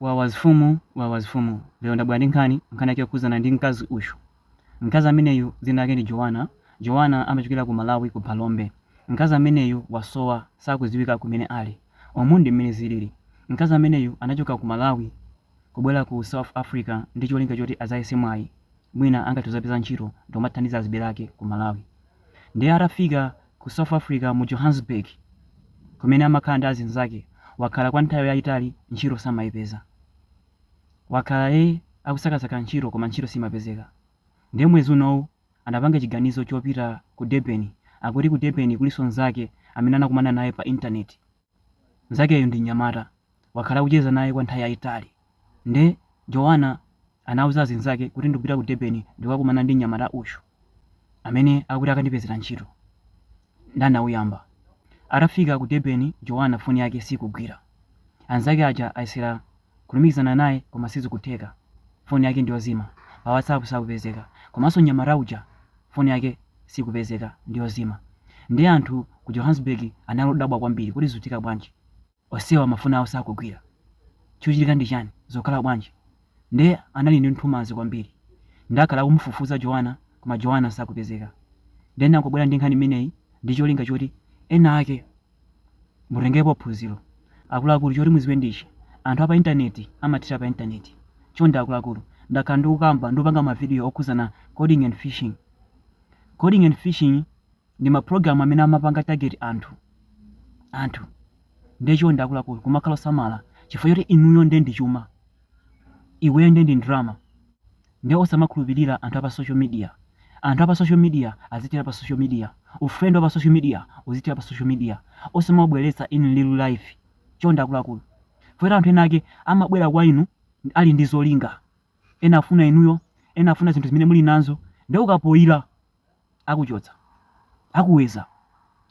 Wawa mfumu wawa mfumu lero ndabwera ndi nkhani nkhani yake yokhudzana ndi mkazi uyu mkazi ameneyu dzina lake ndi Joana Joana amachokera ku Malawi ku Phalombe mkazi ameneyu wasowa sakudziwika kumene ali umu ndi mmene zilili mkazi ameneyu anachoka ku Malawi kubwera ku South Africa ndi cholinga choti adzayese mwayi mwina angathe kuzapeza ntchito ndikumathandiza azibale ake ku malawi ndiye atafika ku south africa mu johannesburg kumene amakhala ndi azinzake wakhala kwa nthawi yayitali ntchito samayipeza wakhala akusakasaka ntchito koma ntchito simapezeka ndiye mwezi unowu anapanga chiganizo chopita ku durban akuti ku durban kulinso nzake amene anakumana naye pa intaneti Mnzakeyo ndi mnyamata. Wakhala akucheza naye kwa nthawi yaitali. Nde Joanna anauza azinzake kuti ndikupita ku Durban ndikukakumana ndi mnyamata uyu amene akuti akandipezera ntchito. Nde anauyamba. Atafika ku Durban Joanna foni yake sikugwira. Anzake aja ayesera kulumikizana naye koma sizikutheka phone yake ndiyozima pa whatsapp sakupezeka komanso nyamata uja phone yake sikupezeka ndiyozima nde anthu ku johannesburg anali odabwa kwambiri kuti zutheka bwanji onsewa mafoni awo sakugwira chochitika ndi chani zokhala bwanji nde anali ndi nthumanzi kwambiri nde akhala akumufufuza joana koma joana sakupezeka nde ndikubwera ndi nkhani imeneyi ndi cholinga choti ena ake mutengepo phunziro akuluakulu choti muziwe ndichi anthu apa intaneti amathera pa intaneti chonde akuluakulu ndakhala ndikukamba ndikupanga mavidiyo okhuzana coding and phishing coding and phishing ndi maprogramu amene amapanga target anthu ndiye chonde akuluakulu kumakhala osamala chifukwa choti inuyo nde ndi chuma iweyo nde ndi ndalama Nde osamakhulupilira anthu apa social media. Anthu apa social media azithera pa social media. Ufriend wapa social media uzithera pa social media. Osamaubweretsa in real life. Chonde akuluakulu. Chifukwa anthu ena ake amabwera kwa inu ali ndi zolinga. Ena afuna inuyo, ena afuna zinthu zimene muli nazo. Nde ukafoila akuchotsa. Akuweza.